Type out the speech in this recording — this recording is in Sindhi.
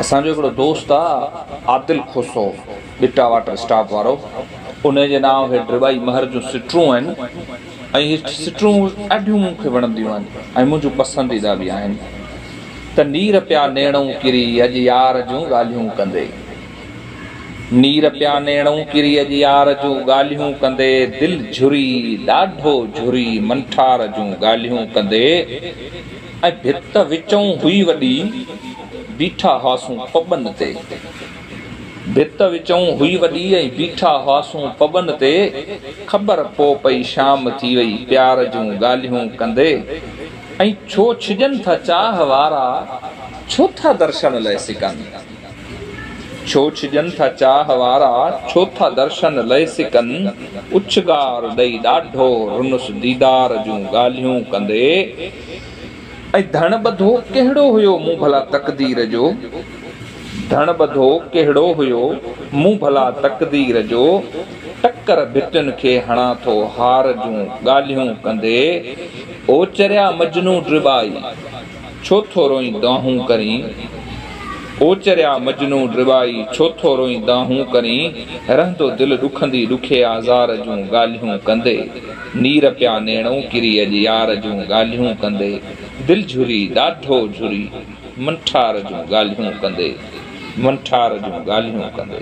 اسان جو هڪڙو دوست آ عادل کوسو ٻٽا واٽر اسٽاپ وارو انهي جي نانء هي ڊرٻائي مهر جون سٽرون آهن ۽ هي سٽرون ڏاڍيون مون کي وڻنديون آهن ۽ منهنجون پسنديده به آهن ته نير پيا نيڻئون ڪري اڄ يار جون ڳالهيون ڪندي نير پيا نيڻئون ڪري اڄ يار جون ڳالهيون ڪندي دل جھري ڏاڍو جھري منٺار جون ڳالهيون ڪندي ۽ ڀت وچئون هئي وڏي، بيٺا هئاسون پٻن تي. ڀت وچئون هئي وڏي ۽ بيٺا هئاسون پٻن تي، خبر پو پئي شام ٿي وئي پيار جون ڳالهيون ڪندي، ۽ ڇو ڇڄن ٿا چاهه وارا، ڇو ٿا درشن لئه سڪن. ڇو ڇڄن ٿا چاهه وارا، ڇو ٿا درشن لئه سڪن. اڇگار ڏئي ڏاڍو، رنس ديدار جون ڳالهيون ڪندي. ۽ ڌڻ ٻڌو ڪهڙو هيو مون ڀلا تقدير جو. ڌڻ ٻڌو ڪهڙو هيو مون ڀلا تقدير جو. ٽڪر ڀتين کي هڻان ٿو هار جون ڳالهيون ڪندي. او چريا مجنون ڊٻائي. ڇو ٿو روئين دانهون ڪرين او چريا مجنون ڊٻائي ڇو ٿو روئين دانهون ڪرين رهندو دل ڏکندي ڏکي آزار جون ڳالهيون ڪندي نير پيا نيڻئون ڪري اڄ يار جون ڳالهيون ڪندي دل جهري ڏاڍو جهري منٺار جون ڳالهيون ڪندي منٺار جون ڳالهيون ڪندي.